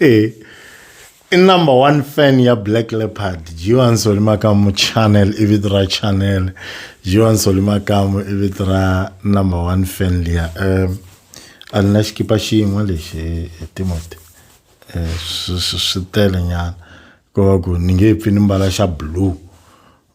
e i number one fan ya black leopard jiwan solimakamu channel i vito ra channel jiwan solimakamu i vito ra number one fan liya um a ni na xikipa xin'we lexi hi timoti eh, swi tele nyana ko va ku ni nge pfi ni mbala xa blue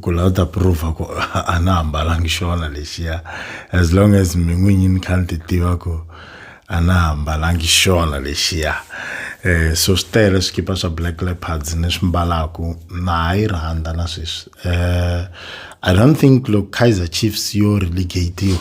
ku la u ta prova ku a na hambalangi xona lexiya as long as mi n'winyi ni kha ni ti tiva ku a na hambalangi xona lexiya um so swi tele swikipa swa black leopards ni swi mbalaku na ha yi rhandza na sweswi um i don't think loko kaizer chiefs yo relegatiwa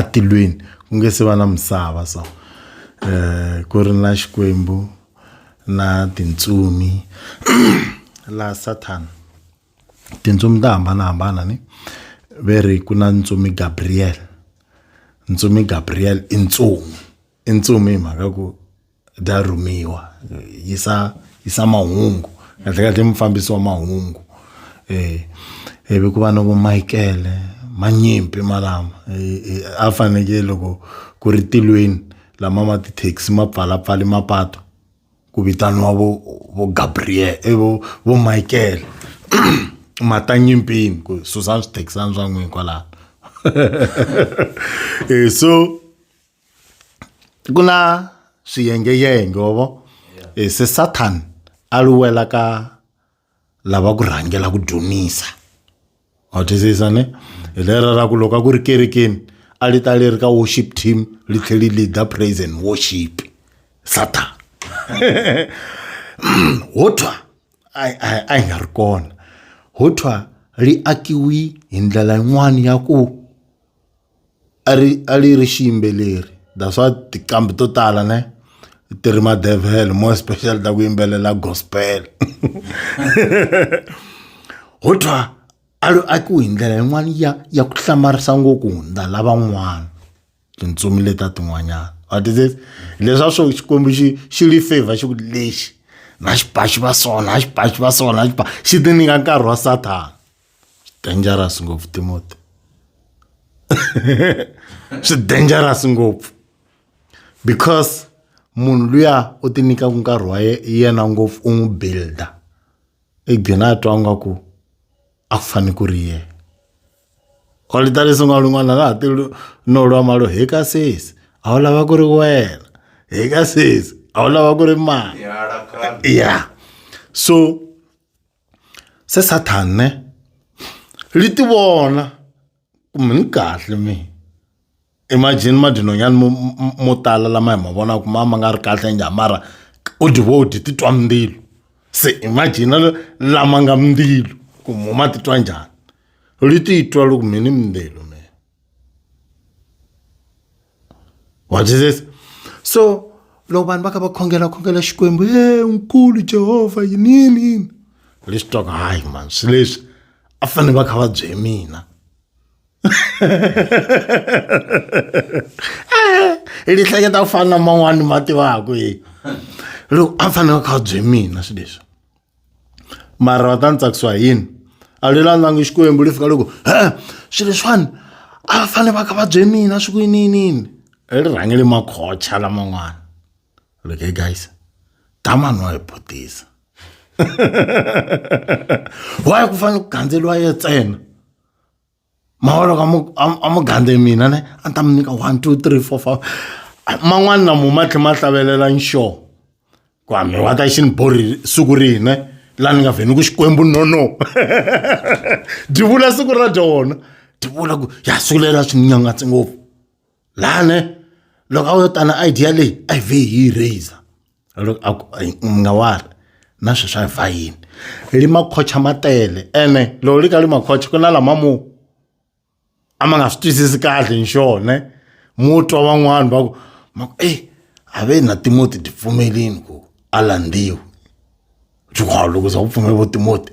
etilweni ku nga se va na misava so eh ku ri na xikwembu na tintsumi la Satan tintsumi ta hambanahambana ni ve ri ku na ntsumi Gabriel ntsumi Gabriel i ntsumi i ntsumi hi mhaka ku. bya rhumiwa yisa yisa mahungu kahle kahle mufambisi wa mahungu eh ivi ku va na vo Michael manyimpi malama a fanekele loko ku ri tilweni lama ma ti-taxi ma pfala pfale mapatu ku vitaniwa vo vo Gabriel i vo vo Michael ma ta nyimpini ku susani swithekisana swa n'wina kwalano so. ku na swiyengeyenge wa vo eh, se sathani a luwela ka lava ku rhangela ku dyonisa wa twisisa ne hi lera ra ku loko a ku ri kerekeni a li ta li ri ka worship team li tlhe li leader praise and worship satan ho thwa a yi nga ri kona ho thwa li akiwi hi ndlela yin'wana ya ku a ri a ri ri xiyimbeleri that's why tinqambi to tala ne ti ri madevhele more especially ta ku yimbelela gospel ho thwa a ri akiwe hi ndlela yin'wana ya ya ku hlamarisa ngopfu hundza lavan'wana tintsumi leta tin'wanyana what is it leswa swo xikwembu xi xi li favor xi ku lexi na xipaxi va sona na xipaxi va sona na xipaxi xi ti nyika nkarhi wa sathana dangerous ngopfu timoti swi dangerous ngopfu because munhu luya u ti nyikaku nkarhi wa ye- yena ngopfu u n'wi builder i gina a twa nga ku a ku fane ku ri yena kwalita leswi nga lun'wana laha ti lu- no lwa malo hi ka sesi a wu lava ku ri wena hi ka sesi a wu lava ku ri mani ya so se sathane ri ti vona ku mi ni kahle mi imagine madinonyani mo mo- mo tala lama hi ma vonaka ma ma nga ri kahle njhani mara u dyi vo dyi titwa mindzilo se imagine la- lama nga mindzilo ku mo ma titwa njhani ri titwa loko mi ni mindzilo. what is this so loko vanhu va kha va khongela khongela xikwembu e nkulu jehovha yinini yini leswi twaka hayi mani swi leswi a fanele va kha va bye mina hi lihleketa ku fana na man'wani ma tivaku hi loko a fanele va kha va bye mina swi leswi mara va ta ni tsakisiwa hi yini a lweyi la langi xikwembu lexi fika loko swilo leswiwani a va fanele va ka va bye mina swi ku yininiyini ri rhangele makhocha laman'wana loko he guys damani wa hi butisa why ku fanele ku gandzeriwa yena ntsena. ma vona ka a mu gandze mina ne a ni ta mi nyika one two three four five man'wani na mu ma tlhe ma hlavelela nxo ku a mi wa ta xi ni borhi siku rihi ne la ni nga vhe ni ku xikwembu no no dyi vula siku ra dyona dyi vula ku ya siku leri a swi ni nyangatsi ngopfu laha ne loko a wu yo tana idea leyi a yi vhe hi yi raiser loko a ku u nga wari na sweswi a hi va yini li makhocha ma tele ene loko li ka li makhocha ku na lama mo a ma nga swi twisisi kahle hi xona mo twa van'wani va ku ma ku eyi a ve na timoti ti pfumelini ku a landziwa byi loko za ku pfumela vo timoti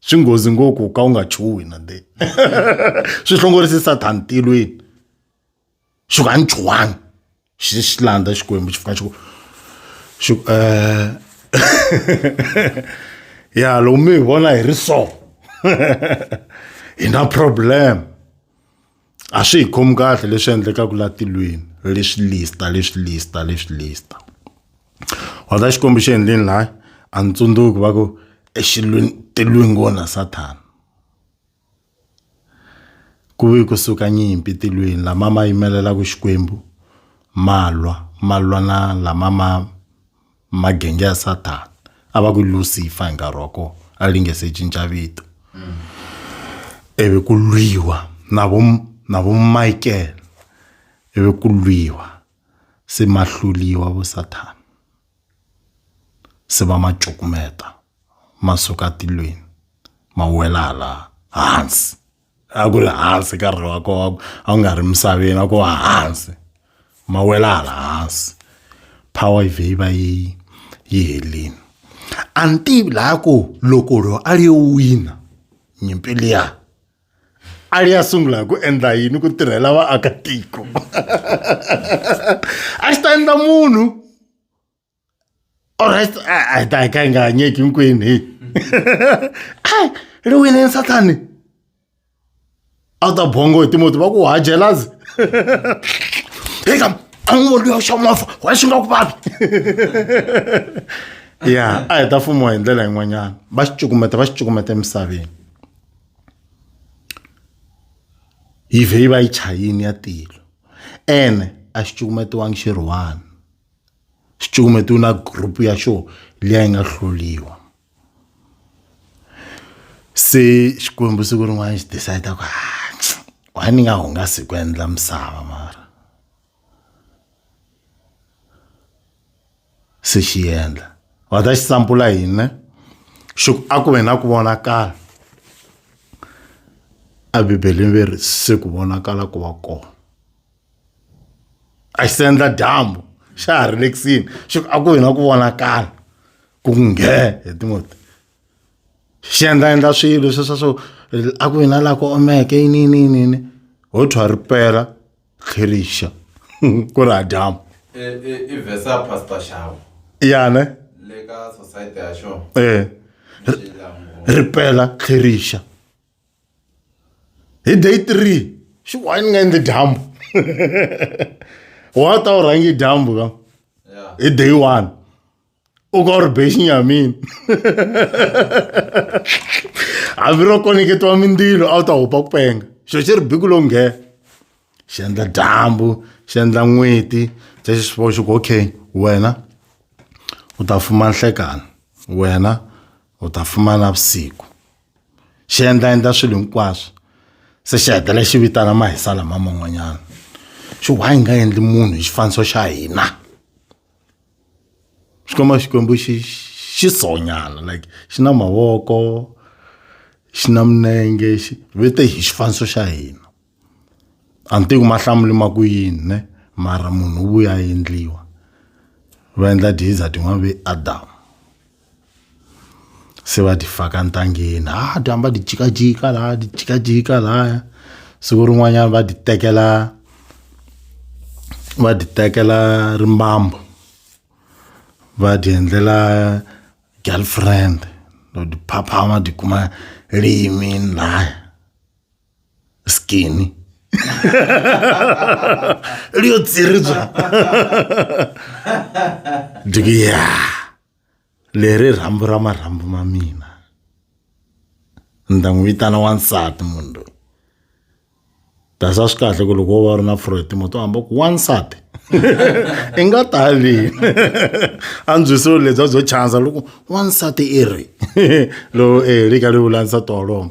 swi nghozi ngopfu ku ka u nga chuhi na de swi hlongorisi sathani tilweni xi ku a ni chuhangi xi xi landza xikwembu xi fika xi ku xi ku eh ya loko mi hi vona hi ri so hi na problem a swi hi khomi kahle leswi endlekaka la tilweni leswi lista leswi lista leswi lista wata xikombo xi endleni laya a ni tsundzuki va ku exilweni tilwini kona sathana ku ve kusuka nyimpi tilweni lama ma yimelelaka xikwembu malwa malwa na lama ma Magenge ya Sathana a va ku Lucifer hi nkarhi wa kona a li nge se cinca vito ivi ku lwiwa na vo na vo Michael ivi ku lwiwa se ma hluliwa vo Sathana se va ma cukumeta ma suka tilweni ma wela hala hansi. a ku ri hansi ka rhi wa kona a ku nga ri misaveni a ko wa hansi ma wela hala hansi power yi vhe yi va yi yi helini a ni tivi laha ku loko ro a ri yo wina nyimpi liya a ri ya sungula hi ku endla yini ku tirhela vaakatiko a xi ta endla munhu alright a ta ka yi nga hanyeki hinkwenu heyi a ri winini sathani a wu ta bongo hi timoti va ku ha jelazi heyi kam a n'wi voni luya xa movha wa xi nga ku vavi ya a hi ta fumiwa hi ndlela yin'wanyana va xi cukumeta va xi cukumeta emisaveni yi vhe yi va yi chayini ya tilo ene a xi cukumetiwangi xirhuwani xicukumeta u na group ya xo leyi a yi nga hloliwa se xikwembu siku rin'wana xi decide ku why ni nga hungasi ku endla misava mara se xi endla va ta xi sampula hina xi ku a ku ve na ku vonakala a bibeleni ve ri se ku vonakala ku va kona a xi sendla dyambu xa ha ri le kusini xi ku a ku hina ku vonakala ku nghe hi timoti xi endla endla swilo swi swa swo a ku hina laha ku omeke yini yini yini yini ho thwa ri pela tlherixa ku ri ha dyambu i vhesa ya pastor xavo yana le ka society ya xona eh ri pela tlherixa hi day three xi wa ni nga endli dyambu wa ta u rhangi dyambu ka hi day one u ka u ri bexinya ya mina hambi ro koneketiwa mindzilo a wu ta hupa ku penga xo xi ri biku lowu nghena xi endla dyambu xi endla n'weti se xi swi vona xi ku okay wena u ta fuma nhlekani wena u ta fuma navusiku xi endla endla swilo hinkwaswo se xi hetelela xi vitana mahisa lama man'wanyana xi why hi nga endli munhu hi xifaniso xa hina xikwembu xikwembu xi xi sonyana like xi na mavoko xi na minenge xi vete hi xifaniso xa hina a ni tivi ku ma hlamuli ma ku yini ne mara munhu u vuya a endliwa va endla diza tin'wana ve adam se va ti faka ntangeni ha ti hamba ti jikajika laya ti jikajika laya siku rin'wanyana va ti tekela va ti tekela rimbambu va ti endlela girlfriend or tiphapha va tikuma liyimini laya. skinny ri yo tsiribya diki ya leri rhambu ra marhambu ma mina ni ta n'wi vitana wansati munhu loyi dasa swi kahle ku loko wo va u ri na froetimo to hamba ku wansati i nga tali andzwisiwo lebya byo chansa loko wansati i ri lowu e lika ri vula nsati wolowo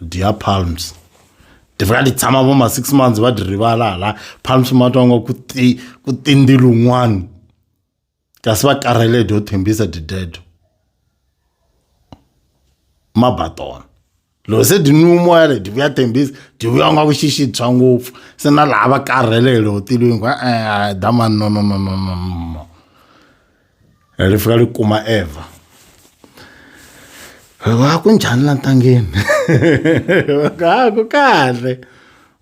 dia palms ndivakati tshama vo ma-six months va dyi rivala hala palms ma twa ngo ku tindi lun'wana kasi va karhele dyo thembisa didedo ma ba tona loko se dyi nwi moya le dyi vuya thembisa dyi vuya nga vuxixi bya ngopfu se na laha va karhele hi lotilwini ku e-e damani no no no no no no ri fika ri kuma evha wa ku njhani la ntangeni a ku kahle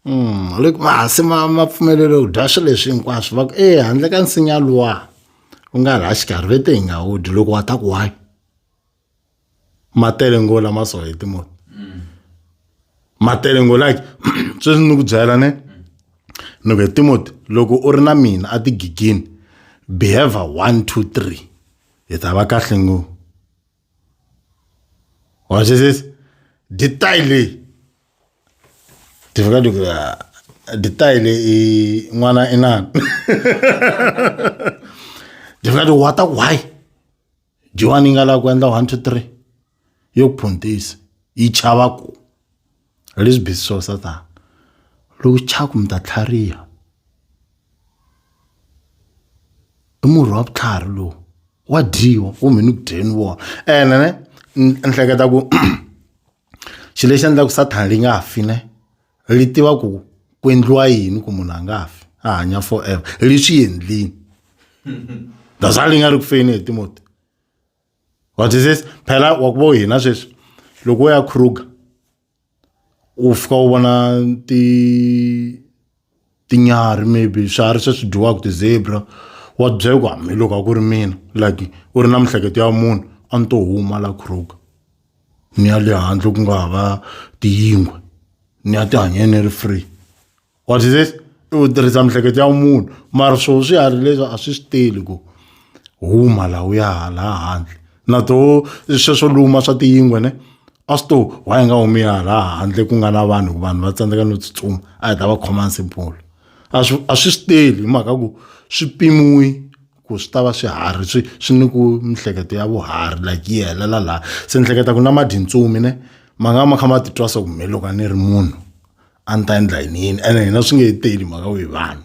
um ri ku mahasi ma ma pfumelele ku dya swilo leswi hinkwaswo va ku e handle ka nsinya luwa u nga laha xikarhi ve te hi nga wu dyi loko wa ta ku why. ma tele ngo lama so hi timunhu ma tele ngo like sweswi ni ku byela ne ni ku timoti loko u ri na mina a tigigini behavior one two three hi ta va kahle ngo wa swi twisisa detail leyi ti fika ti ku ah, detail leyi n'wana i nani ti fika ti wata why jiwani yi nga lavi ku endla one two three yo ku phuntisa yi chava ku leswi busy swo sa tani loko chaku mi ta tlhariha i murhi wa vutlhari lowu wa dyiwa kumbe ni ku dyeni wona ene ne ni ehleketa ku xilo lexi endlaka ku sathana li nga fi ne li tiva ku ku endliwa yini ku munhu a nga fi a hanya forever li swi endlini that's why li nga ri ku feni hi timoti wa twisisa phela wa ku vo hina sweswi loko wo ya kruger u fika u vona ti tinyarhi maybe swiharhi se swi dyiwaka ti-zebra wa byela ku hambiloko a ku ri mina like u ri na miehleketo ya munhu a ni to huma la kruger ni ya le handle ku nga hava tiyingwe ni ya ti hanyeni ni ri free what is this i ku tirhisa miehleketo ya munhu mara swo swiharhi leswi a swi swi teli ku huma laha u ya hala handle. na to sweswo luma swa tiyingwe ne a swi to why nga humi hala handle ku nga na vanhu vanhu va tsandzeka no tsutsuma a hi ta va khoma hansi mpfula a swi a swi swi teli hi mhaka ku swi pimiwi ku swi ta va swiharhi swi swi ni ku mihleketo ya vuharhi like yi helela laha se ni hleketa ku na madintsumi ne ma nga ma kha ma titwa swa ku me loko a ni ri munhu a ni ta endla yini yini ene hina swi nge he teli mhaka ku hi vanhu.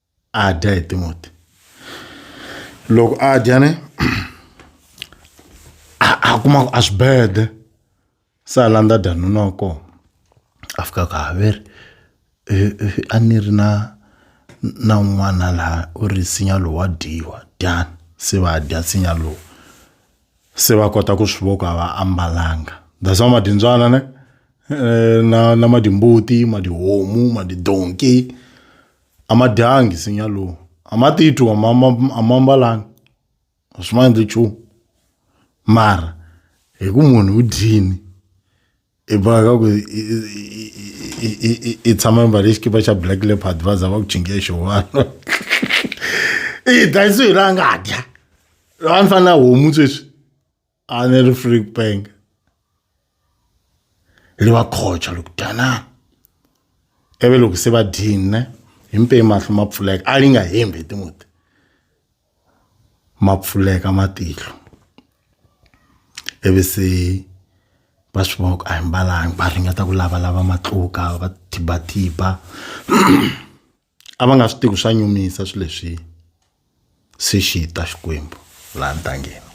a dya hi timoti loko a dya ne a a kuma ku a swibede se a landza dya nuna wa kona a fika ku haveri eh, eh, a ni ri na na un'wana laha u ri nsinya lowu wa dyiwa dyani se va dya nsinya lowu se va kota ku swi voko a va ambalanga that's why madindzwana ne eh, na na madimbuti madihomu madidonki a ma dyangi nsinya lowu a ma titwi a ma a ma mbalanga a swi ma endli nchumu mara hi ku munhu u dyini i boheka ka ku i tshama mbale xikipa xa black leopard va za va ku chinge xihwalo i dlayisiwe la nga dya loyi a ni fanele na homu sweswi a ne ri free ku penga ri va khocha loko danana ivi loko se va dyini himpeni mahlo ma pfuleka a li nga hembi tin'weti ma pfuleka matihlo ivi se va swi vona ku a hi mbalanga va ringeta ku lavalava matluka va thibatiba. a va nga swi tivi swa nyumisa swilo leswi se xi ta xikwembu laha ntangeni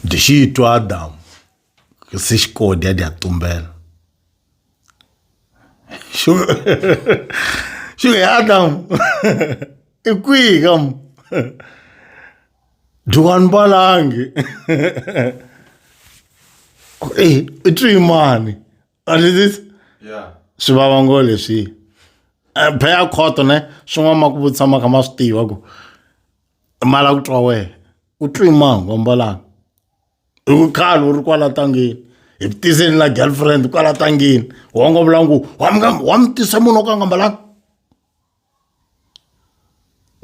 dyi xi twa adamu se xi kodya dya tumbela xi xi ya adamu i kwihi ka mu dyiwani balangi ku e i twimani a ni tisi swi vava ngo leswi eh, phaya khoto ne swin'wana ma ku vutisa ma kha ma swi tiva ku mala ku twa wehe u twi mangu ambalanga hi ku khale u ri kwala tangeni hi ku tiseni la girlfriend kwala tangeni wongo vula ngo wa mi tisa munhu o ka nga mbalanga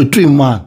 u twi mangu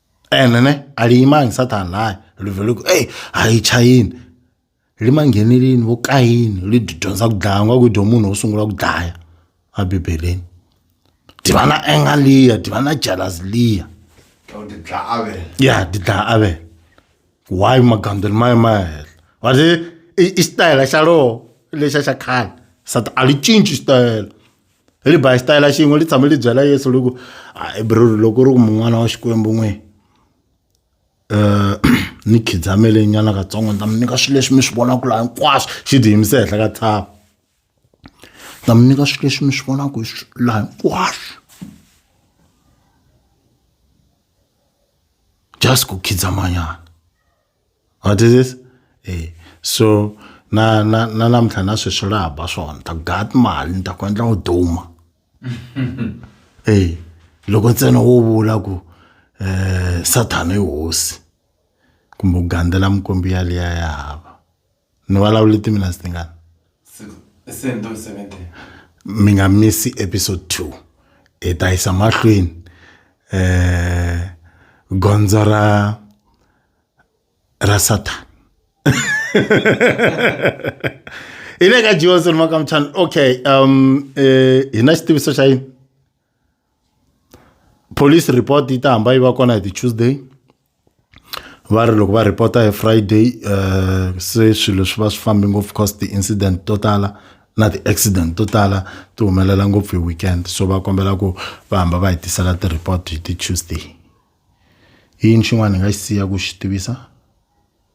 ene ne aliyimangi sathane naye livhele ku eyi a yi chayini limangheneleni vo kayini li dyondza ku dlaya nga ku dyo munhu wo sungula ku dlaya a bibeleni tiva na enga liya tiva na jealous liya ya ti dlaya avele why magandzelo ma ye ma ya hehla va ri i i xitayela xa loho lexa xa khale sati a li cinci xitayela. ri ba hi xitayela xin'we ri tshame ri byela yesu ri ku bror loko ri ku mun'wana wa xikwembu n'we um ni khidzamele nyana katsongo ni ta mi nyika swilo leswi mi swi vonaka laha hinkwaswo xi ti yimise henhla ka tshava ni ta mi nyika swilo leswi mi swi vonaka laha hinkwaswo just ku khidzamanyana What is this? Eh. So na na na namuntlha na sweswi laha ba swona ta gat mali ni ta ku endla u duma. Eh. Loko ntsena wo vula ku eh sathana i hosi kumbe u gandzela mukombi yaliya ya hava. ni vulavule timinasi tingani mi nga misi episode two hi ta yisa mahlweni um gondzo ra ra satan hi le ka johnson makamchani okay um eh, hi na xitiviso xa yini police report yi ta hamba yi va kona hi ti-tuesday va ri loko va reporta hi friday um se swilo swi va swi fambi ngopfu cause ti-incident to tala na ti-accident to tala ti humelela ngopfu hi weekend so va kombela ku va hamba va hi tisela ti-report hi ti-tuesday i yini xin'wana hi nga xi siya ku xi tivisa